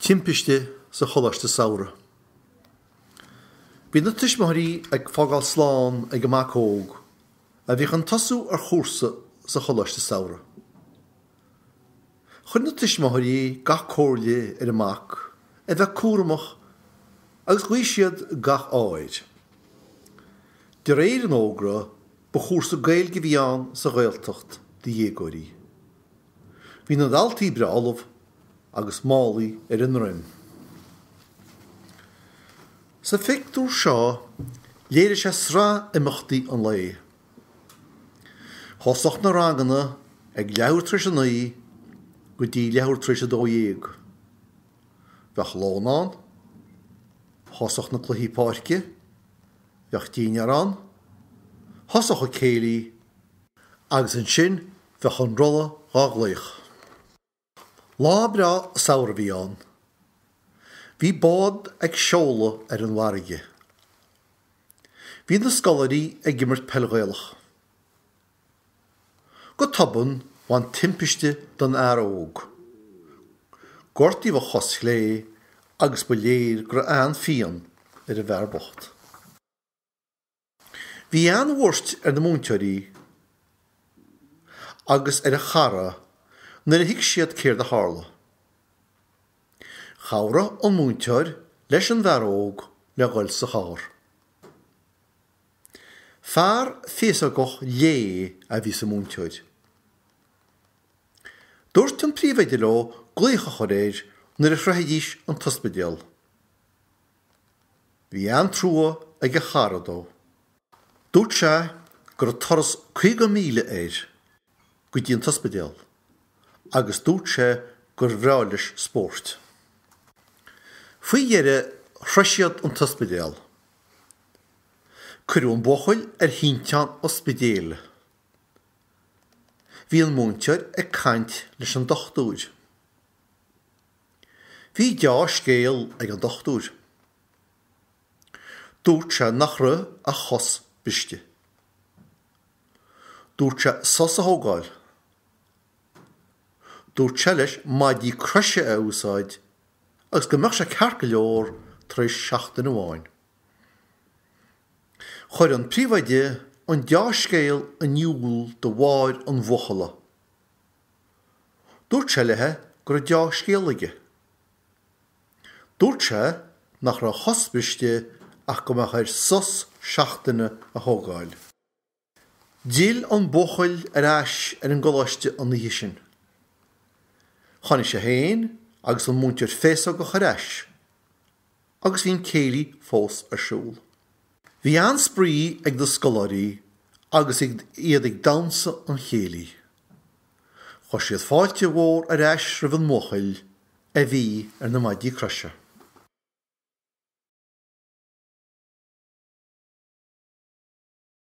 Timpiste sa choláiste samhraidh. Bhí na tuismitheoirí ag fágáil slán ag a mac óg a bhí chun tosú ar chúrsa sa choláiste samhraidh. Chuir na tuismitheoirí gach comhairle ar a mac a bheith cúramach agus ghuigh siad gach ádh air. De réir an fhógra, Ba chúrsa Gaeilge a bhí ann sa Ghaeltacht do dhéagóirí. Bhí na daltaí breá ullamh agus málaí ar a ndroim. Sa phictiúr seo, léirigh sé sraith imeachtaí an lae. Thosaigh na ranganna ag leathuair tar éis a naoi go dtí leathuair tar éis a dó dhéag. Bheadh lón ann. Thosaigh na cluichí páirce. Bheadh dínneár ann, thosódh an céilí agus ansin bheadh an rolla dhá ghlaoch. Lá breá samhraidh a bhí ann. Bhí bád ag seoladh ar an bhfarraige. Bhí na scoláirí ag imirt peil Ghaelach. Go tobann, bhain timpiste don fhear óg. Gortaíodh a chos chlé agus ba léir go raibh an-phian ar an bhfear bocht. Bhí an-bhuairt ar na múinteoirí agus ar a chara nuair a thuig siad céard a tharla. Chabhraigh an múinteoir leis an bhfear óg le dhul sa charr. Fear féasógach liath a bhí sa múinteoir. Dúirt an príomhoide leo glaoch a chur air nuair a shroichfidís an t-ospidéal. Bhí an-trua ag a chara dó. Dúirt sé go raibh turas 50 míle air go dtí an t-ospidéal agus dúirt sé gur bhreá leis spórt. Faoi dheireadh shroich siad an t-ospidéal. Cuireadh an buachaill ar shínteán ospidéil. Bhí an múinteoir ag caint leis an dochtúir. Bhí dea-scéal ag an dochtúir. Dúirt sé nach raibh a chos briste. Dúirt sé sos a thógáil. Dúirt sé leis maidí croise a úsáid agus go mbeadh sé ceart go leor tar éis seachtaine amháin. Chuir an príomhoide an dea-scéal in iúl do mháthair an bhuachalla. Dúirt sé léithi go raibh dea-scéal aige. Dúirt sé nach raibh a chos briste ach go mbeadh air sos seachtaine a thógáil. D'fhill an buachaill ar ais ar an gcoláiste an oíche sin. Tháinig sé féin agus an múinteoir féasógach ar ais agus bhí an céilí fós ar siúl. Bhí an-spraoi ag na scoláirí agus iad ag damhnsa an chéilí. Chuir siad fáilte mhór ar ais roimh an mbuachaill a bhí ar na maidí croise.